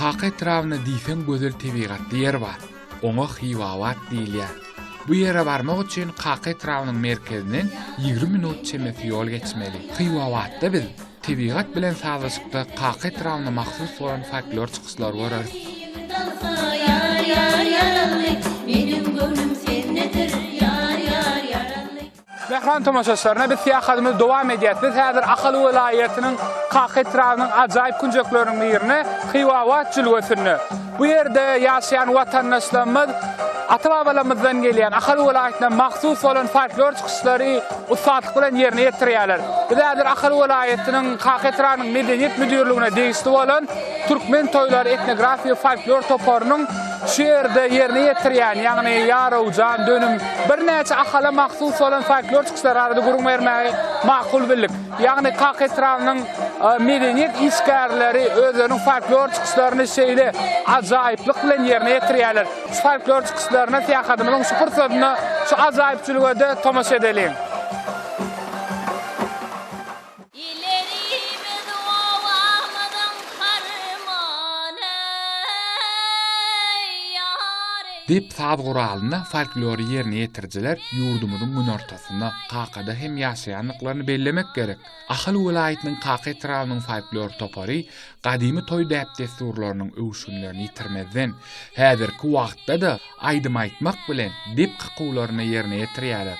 Kaka etrabyna diýseň gözel tebigatly ýer bar. Oňa Hiwabat diýilýär. Bu ýere barmak üçin Kaka etrabynyň merkezinden ýigrimi minut çemesi ýol geçmeli. Hiwabatda biz Tebigat bilen sazlaşykda Kaka etrabyna mahsus bolan folklor çykyşlary göreris. Mähriban tomaşaçylarna biz syýahadymyzy dowam edýäs. Biz häzir Ahal welaýatynyň Kaka etrabynyň ajaýyp künjekleriniň birinde, Hywabat jülgesinde. Bu ýerde ýaşaýan watandaşlarymyz ata-babalarymyzdan gelýän, Ahal welaýatyna mahsus bolan folklor çykyşlary ussatlyk bilen ýerine ýetirýärler. Biz häzir Ahal welaýatynyň Kaka etrabynyň Medeniýet müdirligine degişli bolan Türkmen toýlary etnografik-folklor toparynyň şu ýerde ýerine ýetirýän, ýagny Ýarawjan, Dönüm, birnäçe Ahala mahsus bolan folklor çykyşlary barada gürrüň bermäge makul bildik. Ýagny Kak etrabynyň medeniýet işgärleri özleriniň folklor çykyşlaryny şeýle ajaýyplyk bilen ýerine ýetirýärler. Şu folklor çykyşlaryna syýahatymyzyň şu pursatynda şu ajaýypçylyga-da tomaşa edeliň. Illerimiz obamyzyň harmany-eý, ýar-eý. Diýip, saz guralyna folklory ýerine ýetirijiler ýurdumyzyň günortasy. Aslynda Kakada hem ýaşaýandyklaryny bellemek gerek. Ahal welaýatynyň Kaka etrabynyň folklor topary gadymy toý däp-dessurlarynyň öwüşginlerini ýitirmezden, häzirki wagtda-da aýdym aýtmak bilen dep kakuwlaryny ýerine ýetirýärler.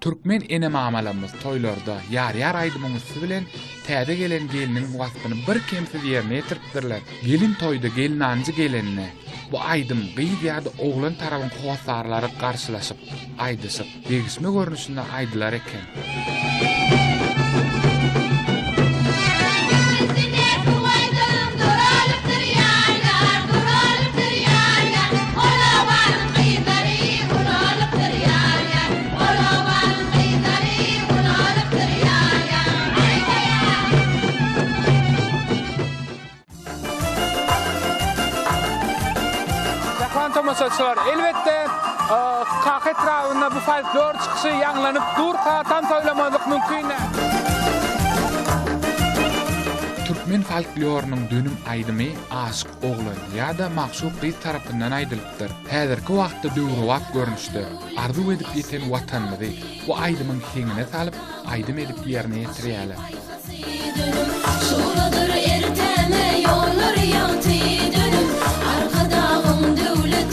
Türkmen ene-mamalarymyz toýlarda Ýar-ýar aýdymyň üsti bilen täze gelen gelniň waspyny birkemsiz ýerine ýetiripdirler. Gelin toýda gelnanjy gelende, bu aýdym gyz ýa-da oglan tarabyň hossarlary garşylaşyp, aýdyşyp, degişme görnüşinde aýdylar eken. Gyzlary ulalypdyr ýar-ýar, ol obanyň gyzlary ulalypdyr ýar-ýar. Jahan tomaşaçylar, elbetde, Kaka etrabynda bu folklor çykyşy ýaňlanyp durka, tans oýlamazlyk mümkin däl. Türkmen folklorynyň dönüm aýdymy Aşyk oglan ýa-da magşuk gyz tarapyndan aýdylypdyr. Häzirki wagtda döwrebap görnüşde, arzuw edip ýeten Watanymyzy bu aýdymyň heňine salyp, aýdym edip ýerine ýetirýärler. Şugladyr erteme ýollar ýagty dönüp, Arkadagym döwlet